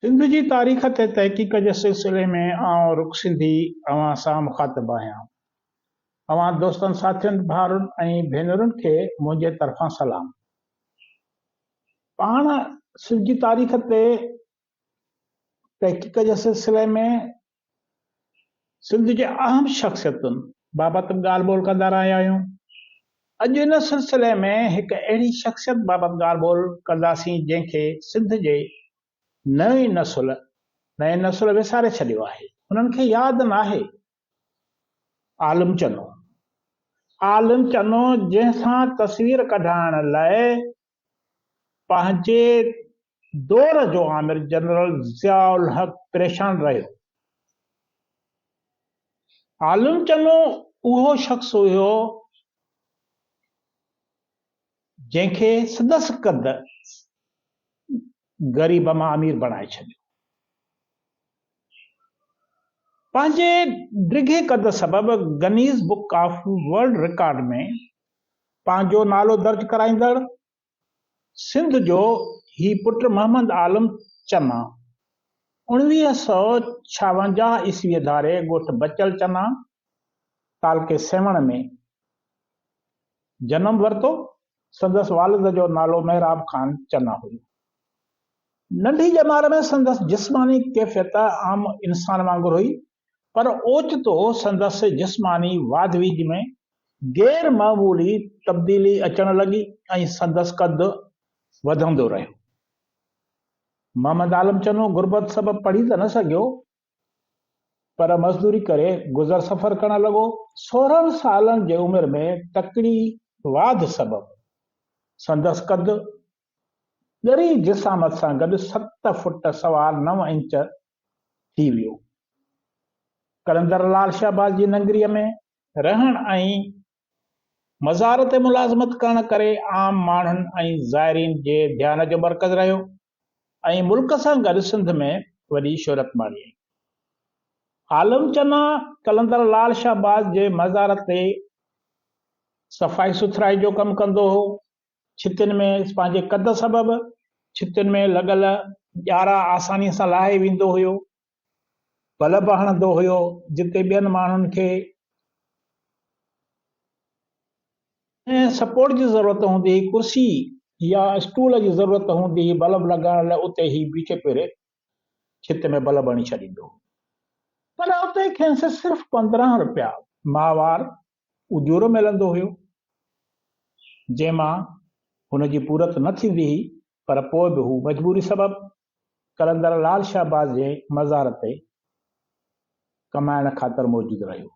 سنڌ جي تاريخ تي تحقيق جي سلسلي ۾ آئون رڪ سنڌي اوهان سان مخاطب آهيان. اوهان دوستن ساٿين ڀائرن ۽ ڀينرن کي منهنجي طرفان سلام. پاڻ سنڌ جي تاريخ تي تحقيق جي سلسلي ۾ سنڌ جي اهم شخصيتن بابت به ڳالهه ٻولهه ڪندا رهيا آهيون. اڄ ان سلسلي ۾ هڪ اهڙي شخصيت بابت ڳالهه ٻولهه ڪنداسين جنهن کي سنڌ جي نئين نسل نئين نسل وساري ڇڏيو آهي. انهن کي ياد ناهي عالم چنو. عالم چنو جنهن سان تصوير ڪڍائڻ لاء پنهنجي دور جو آمر جنرل ضياء الحق پريشان رهيو. عالم چنو اهو شخص هيو جنهن کي سندس قد غريب مان امير بڻائي ڇڏيو. پنهنجي ڊگهي قد سبب Guinness book of world record ۾ پنهنجو نالو درج ڪرائيندڙ سنڌ جو هي پٽ محمد عالم چنا اوڻويهه سؤ ڇاونجاهه عيسويء ڌاري ڳوٺ بچل چنا، تعلقي سيوهڻ ۾ جنم ورتو. سندس والد جو نالو محراب خان چنا هيو. ننڍي ڄمار ۾ سندس جسماني ڪيفيت عام انسان وانگر هئي، پر اوچتو سندس جسماني واڌ ويجهه ۾ غير معمولي تبديلي اچڻ لڳي ۽ سندس قد وڌندو رهيو. محمد عالم چنو غربت سبب پڙهي ته نه سگهيو پر مزدوري ڪري گذر سفر ڪرڻ لڳو. سورهن سالن جي عمر ۾ تڪڙي واڌ سبب سندس قد ڳري جسامت سان گڏ ست فٽ سوا نو انچ ٿي ويو. قلندر لال شهباز جي ننگريء ۾ رهڻ ۽ مزار تي ملازمت ڪرڻ ڪري عام ماڻهن ۽ زائرين جي ڌيان جو مرڪز رهيو ۽ ملڪ سان گڏ سنڌ ۾ وڏي شهرت ماڻيائين. عالم چنا قلندر لال شهباز جي مزار تي صفائي سٿرائي جو ڪم ڪندو هو. ڇتين ۾ پنهنجي قد سبب ڇتين ۾ لڳل ڄارا آسانيء سان لاهي ويندو هيو. بل به هڻندو هيو، جتي ٻين ماڻهن کي ڪنهن سپورٽ جي ضرورت هوندي هئي، ڪرسي يا اسٽول جي ضرورت هوندي هئي بلب لڳائڻ لاء اتي هي بيٺي پيري ڇت ۾ بلب هڻي ڇڏيندو هو. پر اتي کينس صرف پندرهن رپيا ماهوار اجورو ملندو هيو، جنهن مان هن جي پورت نه ٿيندي هئي، پر پوء به هو مجبوري سبب قلندر لعل شهباز جي مزار تي ڪمائڻ خاطر موجود رهيو.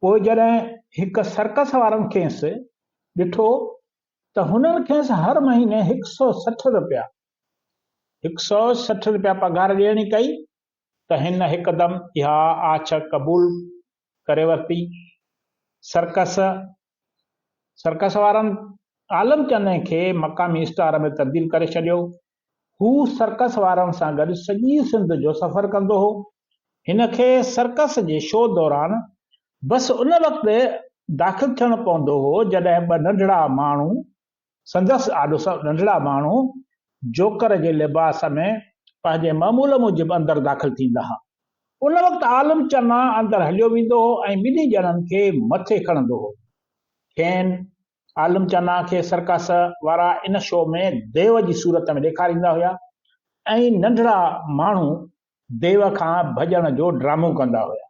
پوء جڏهن هڪ سرڪس وارن کيس ڏٺو ته هنن کيس هر مهيني هڪ سئو سٺ روپيا، هڪ سئو سٺ روپيا پگهار ڏيڻي ڪئي ته هن هڪدم اها آڇ قبول ڪري ورتي. سرڪس، سرڪس وارن عالم چني کي مقامي اسٽار ۾ تبديل ڪري ڇڏيو. هو سرڪس وارن سان گڏ سڄي سنڌ جو سفر ڪندو هو. هن کي سرڪس جي شو دوران بس ان وقت داخل ٿيڻو پوندو هو جڏهن ٻه ننڍڙا ماڻهو سندس آڏو سڀ ننڍڙا ماڻهو جوڪر جي لباس ۾ پنهنجي معمول موجب اندر داخل ٿيندا ها. ان وقت عالم چنا اندر هليو ويندو هو ۽ ٻنهي ڄڻن کي مٿي کڻندو هو. کين، عالم چنا کي، سرڪس وارا ان شو ۾ ديو جي صورت ۾ ڏيکاريندا هيا ۽ ننڍڙا ماڻهو ديو کان ڀڄڻ جو ڊرامو ڪندا هيا.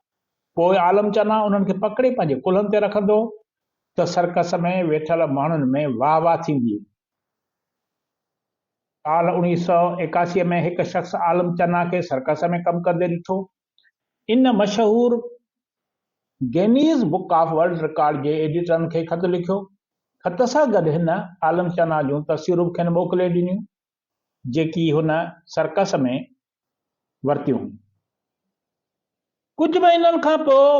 پوء عالم چنا انهن کي پڪڙي پنهنجي ڪلهن تي رکندو هو ته سرڪس ۾ ويٺل ماڻهن ۾ واهه واهه ٿيندي هئي. سال اوڻيهه سؤ ايڪاسي ۾ هڪ شخص عالم چنا کي سرڪس ۾ ڪم ڪندي ڏٺو. ان مشهور Guinness book of world record جي ايڊيٽرن کي خط لکيو. خط سان گڏ هن عالم چنا جون تصويرون به کين موڪلي ڏنيون. جيڪي هن سرڪس ۾ ورتيون هيون. ڪجهه مهينن کان پوء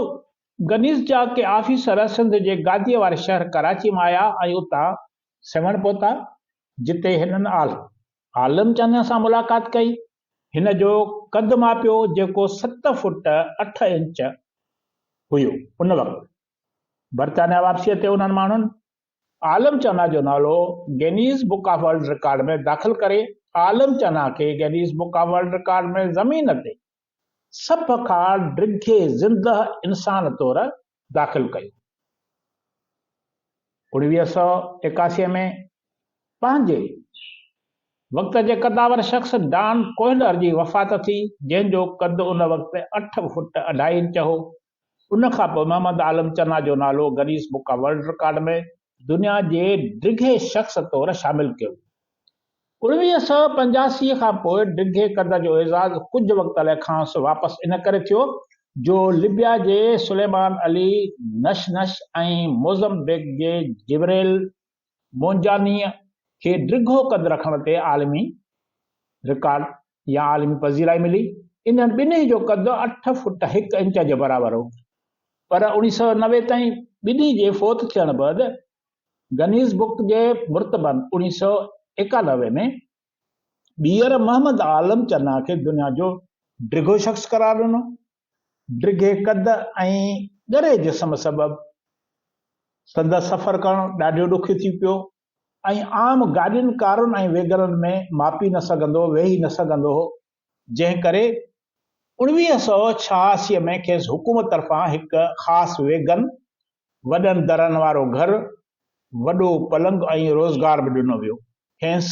گنيز جا ڪي آفيسر سنڌ جي گاديء واري شهر ڪراچي مان آيا ۽ اتان سيوهڻ پهتا، جتي هنن آلهه عالم چانيان سان ملاقات ڪئي. هن جو قد ماپيو، جيڪو ست فوٽ اٺ انچ هيو. ان وقت برطانيا واپسيء تي انهن ماڻهن عالم چنا جو نالو Guinness book of world record ۾ داخل ڪري عالم چنا کي Guinness book of world record ۾ زمين تي سڀ کان ڊگهي زندهه انسان طور داخل ڪيو. اڻويهه سؤ ايڪاسي ۾ پنهنجي وقت جي قدآور شخص ڊان ڪوهلر جي وفات ٿي جنهن جو قد ان وقت اٺ فٽ اڍائي انچ هو ان کان پوء محمد عالم چنا جو نالو Guinness book of world record ۾ دنيا جي ڊگهي شخص طور شامل ڪيو ويو. اوڻويهه سؤ پنجاسي کان پوء ڊگهي قد جو اعزاز ڪجهه وقت لاء کانئس واپس ان ڪري ٿيو جو لبيا جي سليمان علي نشنش ۽ موزمبيق جي جبريل مونجانيء کي ڊگهو قد رکڻ تي عالمي رڪارڊ يا عالمي پذيرائي ملي. انهن ٻنهي جو قد اٺ فٽ هڪ انچ جي برابر هو. پر اوڻيهه سؤ نوي تائين ٻنهي جي فوت ٿيڻ بعد گنيز بڪ جي مرتبن اوڻيهه سؤ ايڪانوي ۾ ٻيهر محمد عالم چنا کي دنيا جو ڊگهو شخص قرار ڏنو. ڊگهي قد ۽ ڳري جسم سبب سندس سفر ڪرڻ ڏاڍيو ڏکيو ٿي پيو ۽ عام گاڏين ڪارن ۽ ويگنن ۾ ماپي نه سگهندو ويهي نه سگهندو هو جنهن ڪري اوڻويهه سؤ ڇهاسي ۾ کيس حڪومت طرفان هڪ خاص ويگن وڏن درن وارو گهر، وڏو پلنگ ۽ روزگار به ڏنو ويو کينس.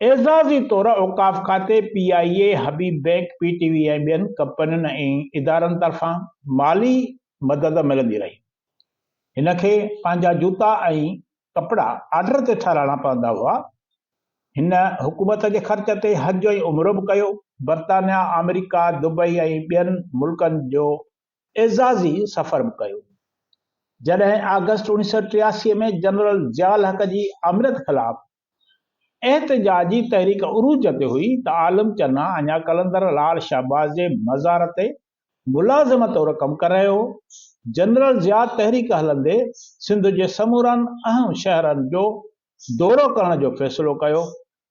اعزازي طور اوقاف کاتي، P I A, Habib bank, P T V ۽ ٻين ڪمپنين ۽ ادارن طرفان مالي مدد ملندي رهي. هن کي پنهنجا جوتا ۽ ڪپڙا آرڊر تي ٺهرائڻا پوندا هئا. هن حڪومت جي خرچ تي حج ۽ عمرو به ڪيو. برطانيا، آمريڪا، دبئي ۽ ٻين ملڪن جو اعزازي سفر به ڪيو. جڏهن آگسٽ اوڻيھ سؤ ٽياسي ۾ جنرل ضياء الحق جي آمريت خلاف احتجاجي تحريڪ عروج تي هئي ته عالم چنا اڃا قلندر لال شهباز جي مزار تي ملازم طور ڪم ڪري رهيو هو. جنرل ضياء تحريڪ هلندي سنڌ جي سمورن اهم شهرن جو دورو ڪرڻ جو فيصلو ڪيو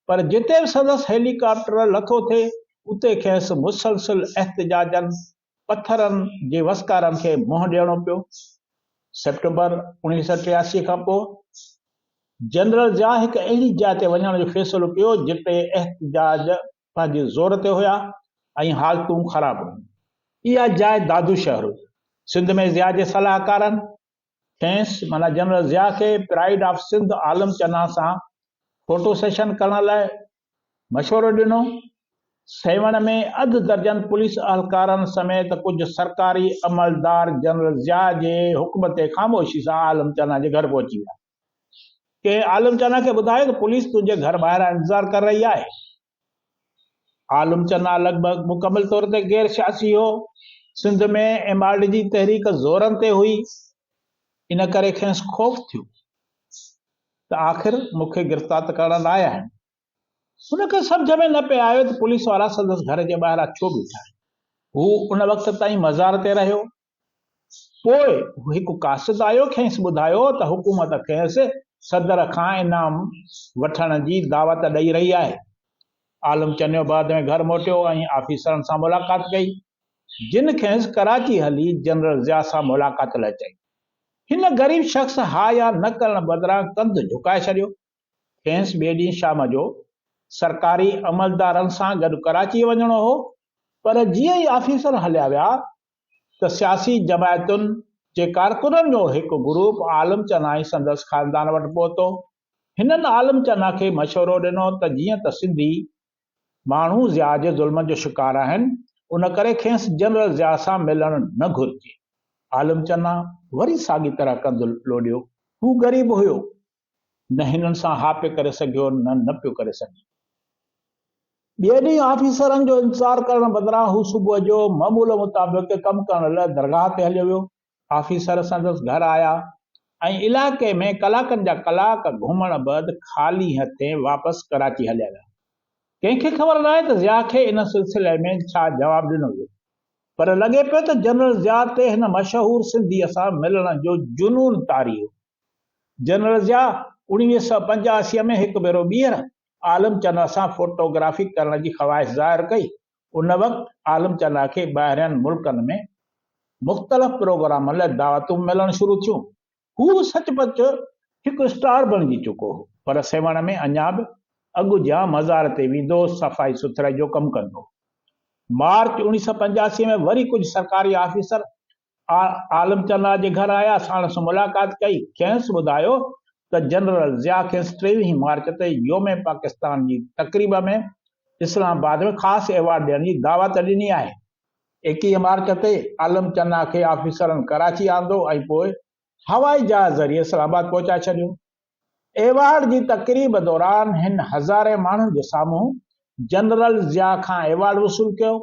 پر جتي به سندس هيلي ڪاپٽر لٿو ٿي اتي کيس مسلسل احتجاجن پٿرن جي وسڪارن کي منهن ڏيڻو پيو. سيپٽمبر اوڻيهه سئو ٽياسي کان پوء جنرل ضياء هڪ اهڙي جاء تي وڃڻ جو فيصلو ڪيو جتي احتجاج پنهنجي زور تي هيا ۽ حالتون خراب هيون. اها جاء دادو شهر هئي. سنڌ ۾ ضياء جي صلاحڪارن کيس معنيٰ جنرل ضياء کي پرائيڊ آف سنڌ عالم چنا سان فوٽو سيشن ڪرڻ لاء مشورو ڏنو، سيوهڻ ۾ اڌ درجن پوليس اهلڪارن سميت ڪجهه سرڪاري عملدار جنرل ضياء جي حڪم تي خاموشي سان عالم چنا جي گهر پهچي ويا. ڪنهن عالم چنا کي ٻڌايو ته پوليس تنهنجي گهر ٻاهران انتظار ڪر رهي آهي. عالم چنا لڳ ڀڳ مڪمل طور تي غير سياسي هو. سنڌ ۾ ايم آر ڊي جي تحريڪ زورن تي هئي، ان ڪري کينس خوف ٿيو. ته آخر مون کي گرفتار ته ڪرڻ لاء آهن. هن کي سمجهه ۾ نه پئي آيو ته پوليس وارا سندس گهر جي ٻاهران ڇو بيٺا آهن. هو ان وقت تائين مزار تي رهيو. پوء هڪ قاصد آيو کيس ٻڌايو ته حڪومت کيس صدر کان انعام وٺڻ جي دعوت ڏئي رهي آهي. عالم چنيو بعد ۾ گهر موٽيو ۽ آفيسرن سان ملاقات ڪئي جن کيس ڪراچي هلي جنرل ضياء سان ملاقات لاء چيو. هن غريب شخص ها يا نه ڪرڻ بدران ڪنڌ جهڪائي ڇڏيو. کيس ٻئي ڏينهن شام جو سرڪاري عملدارن سان گڏ ڪراچي وڃڻو هو پر جيئن ئي آفيسر هليا ويا ته سياسي جماعتن جي ڪارڪنن جو هڪ گروپ عالم چنا ۽ سندس خاندان وٽ پهتو. هنن عالم چنا کي مشورو ڏنو ته جيئن ته سنڌي ماڻهو ضياء جي ظلمن جو شڪار آهن، ان ڪري کيس جنرل ضياء سان ملڻ نه گهرجي. عالم چنا وري ساڳي طرح ڪنڌ لوڏيو. هو غريب هيو. نه هنن سان ها پيو ڪري سگهيو نه نه پيو ڪري سگهي. ٻئي ڏينهن آفيسرن جو انتظار ڪرڻ بدران هو صبح جو معمول مطابق ڪم ڪرڻ لاء درگاهه تي هليو ويو. آفيسر سندس گهر آيا ۽ علائقي ۾ ڪلاڪن جا ڪلاڪ گهمڻ بعد خالي هٿين واپس ڪراچي هليا ويا. ڪنهن کي خبر ناهي ته ضياء کي ان سلسلي ۾ ڇا جواب ڏنو ويو. پر لڳي پيو ته جنرل ضياء تي هن مشهور سنڌيء سان ملڻ جو جنون طاري هو. جنرل ضياء اوڻويهه سؤ پنجاهه اسيء ۾ هڪ ڀيرو ٻيهر عالم چنا سان فوٽوگرافي ڪرڻ جي خواهش ظاهر ڪئي ان وقت عالم چنا کي ٻاهرين ملڪن ۾ مختلف پروگرامن لاء دعوتون ملڻ شروع ٿيون. هو سچ پچ هڪ اسٽار بڻجي چڪو هو، پر سيوهڻ ۾ اڃا به اڳ جيان مزار تي ويندو هو، صفائي سٿرائي جو ڪم ڪندو هو. مارچ اوڻيهه سؤ پنجاسي ۾ وري ڪجهه سرڪاري آفيسر آء عالم چنا جي گهر آيا ساڻس ملاقات ڪئي کينس ٻڌايو ته جنرل ضياء کيس ٽيويهين مارچ تي يوم پاڪستان جي تقريب ۾ اسلام آباد ۾ خاص ايوارڊ ڏيڻ جي دعوت ڏني آهي. ايڪيهه مارچ تي عالم چنا کي آفيسرن ڪراچي آندو ۽ پوء هوائي جهاز ذريعي اسلام آباد پهچائي ڇڏيو. ايوارڊ جي تقريب دوران هن هزارين ماڻهن جي سامهون جنرل ضياء کان ايوارڊ وصول ڪيو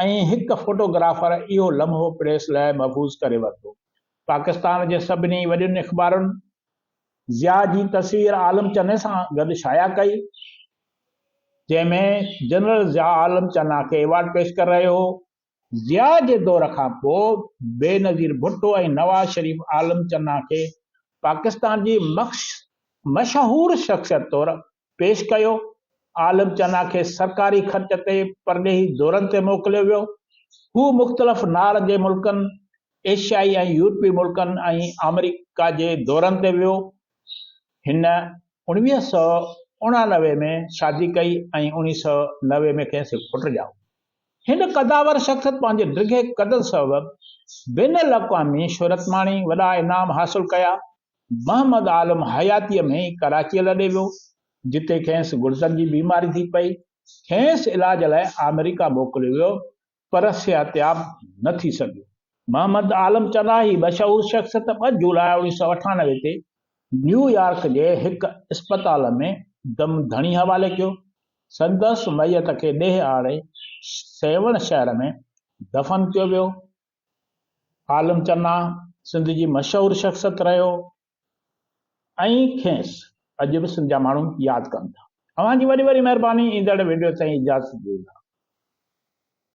۽ هڪ فوٽوگرافر اهو لمحو پريس لاء محفوظ ڪري ورتو. پاڪستان جي سڀني وڏين اخبارن ضياء جي تصوير عالم چني سان گڏ شايع ڪئي، جنهن ۾ جنرل ضياء عالم چنا کي ايوارڊ پيش ڪري رهيو هو. ضياء جي دور کان پوء بينظير ڀٽو ۽ نواز شريف عالم چنا کي پاڪستان جي مشهور شخصيت طور پيش ڪيو. عالم چنا کي سرڪاري خرچ تي پرڏيهي دورن تي موڪليو ويو. هو مختلف نار جي ملڪن، ايشيائي ۽ يورپي ملڪن ۽ آمريڪا جي دورن تي ويو. هن اڻويهه سؤ اڻانوي ۾ شادي ڪئي ۽ اڻيهه سؤ نوي ۾ کيس هڪ پٽ ڄائو. هن قدآور شخصيت پنهنجي ڊگهي قد سبب بين الاقوامي شهرت ماڻي، وڏا انعام حاصل ڪيا. محمد عالم حياتيء ۾ ئي ڪراچيء لڏي ويو، جتي کيس گڙدن جي بيماري ٿي پئي. کيس علاج لاء آمريڪا موڪليو ويو، پر صحتياب نه ٿي سگهيو. محمد عالم چنا هي مشهور شخصيت ٻه جولاء اوڻيهه سؤ اٺانوي تي نيويارڪ جي هڪ اسپتال ۾ دم ڌڻي حوالي ڪيو. سندس ميت کي ڏيهه آڙي سيوهڻ شهر ۾ دفن ڪيو ويو. عالم چنا سنڌ جي مشهور شخصيت رهيو ۽ کيس اڄ به سنڌ جا ماڻهو ياد ڪن ٿا. اوهان جي وڏي وڏي مهرباني ايندڙ وڊيو تائين اجازت ڏيو ٿا.